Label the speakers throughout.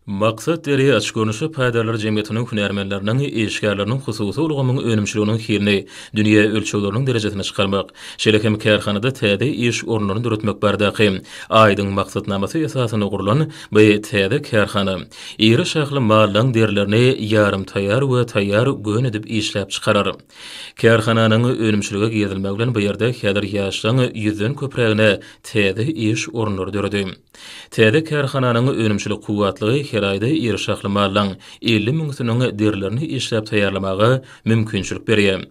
Speaker 1: Maksat deri açgöwünçlik paýdarlar jemgyýetiniň hünärmenleriniň, işgärleriniň hususy ulgamyň önümçiliginiň hilini, dünýä ölçegleriniň derejesini çykarmak, şeýle hem kärhanada täze iş orunlaryny döretmek baradaky aýdyň maksatnamasy esasynda gurlan bu täze kärhana iri şahly mallaň derilerini ýarym taýýar we taýýar gön edip işläp çykarar. Kärhananyň önümçilige girizilmegi bilen bu ýerde häzir ýaşlaryň ýüzden köprägine täze iş orunlary döredi. Täze kärhananyň önümçilik kuwwatlygy her aýda iri şahly mallaň elli müňüsiniň derilerini işläp taýýarlamaga mümkinçilik berýär.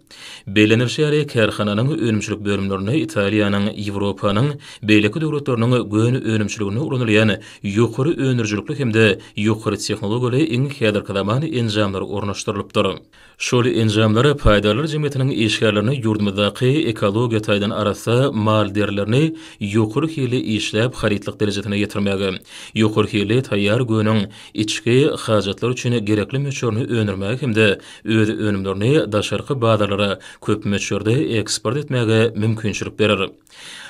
Speaker 1: Bellenilişi ýaly, kärhananyň önümçilik bölümlerinde Italiýanyň, Ýewropanyň beýleki döwletleriniň gön önümçiliginde ulanylýan ýokary öndürijilikli hem-de ýokary tehnologiýaly iň häzirki zaman enjamlary ornaşdyrylypdyr. Şol enjamlar paýdarlar jemgyýetiniň işgärlerine ýurdumyzdaky ekologiýa taýdan arassa mal derilerini ýokary hilli işläp harytlyk derejesine ýetirmäge, ýokary hilli taýýar göwniň içki hajatlar üçin gerekli möçberini öndürmäge hem-de öz önümlerini daşarky bazarlara köp möçberde eksport etmäge mümkinçilik berer.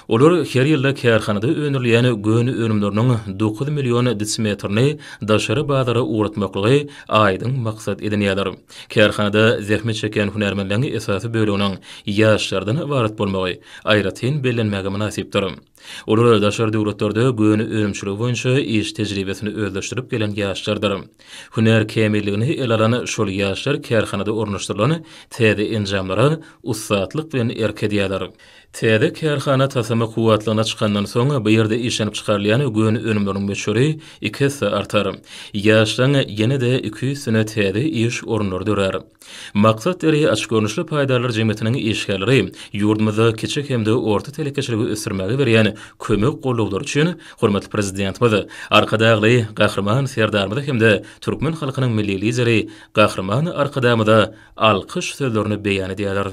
Speaker 1: Olar her ýylda kärhanada öndürilýän göni önümleriniň dokuz million desimetrini daşary bazara ugratmaklygy aýdyň maksat edinýärler. Kärhanada zähmet çekýän hünärmenleriň esasy böleginiň ýaşlardan ybarat bolmagy aýratyn bellenmäge mynasypdyr. Olar daşary döwletlerde göni önümçiligi boýunça iş tejribesini özleşdirip gelen ýaşlardyr. Hünär kämilligini ele alan şol ýaşlar kärhanada ornaşdyrylan täze enjamlara ussatlyk bilen erk edýärler. Täze kärhana tasama kuwwatlygyna çykandan soň, bu ýerde işlenip çykarylýan göni önümleriň möçberi iki esse artar. Ýaşlaň ýene-de iki ýüz sene täze iş orunlary dörär. Maksat Deri açyk görnüşli paýdarlar jemgyýetiniň işgärleri ýurdumyzda kiçi hem-de orta telekeçiligi ösdürmäge berýän kömek gollaglary üçin hormatly Prezidentimiz, Arkadagly Gahryman Serdarymyza hem-de türkmen halkynyň Milli Lideri Gahryman Arkadagymyza alkyş sözlerini beýan edýärler.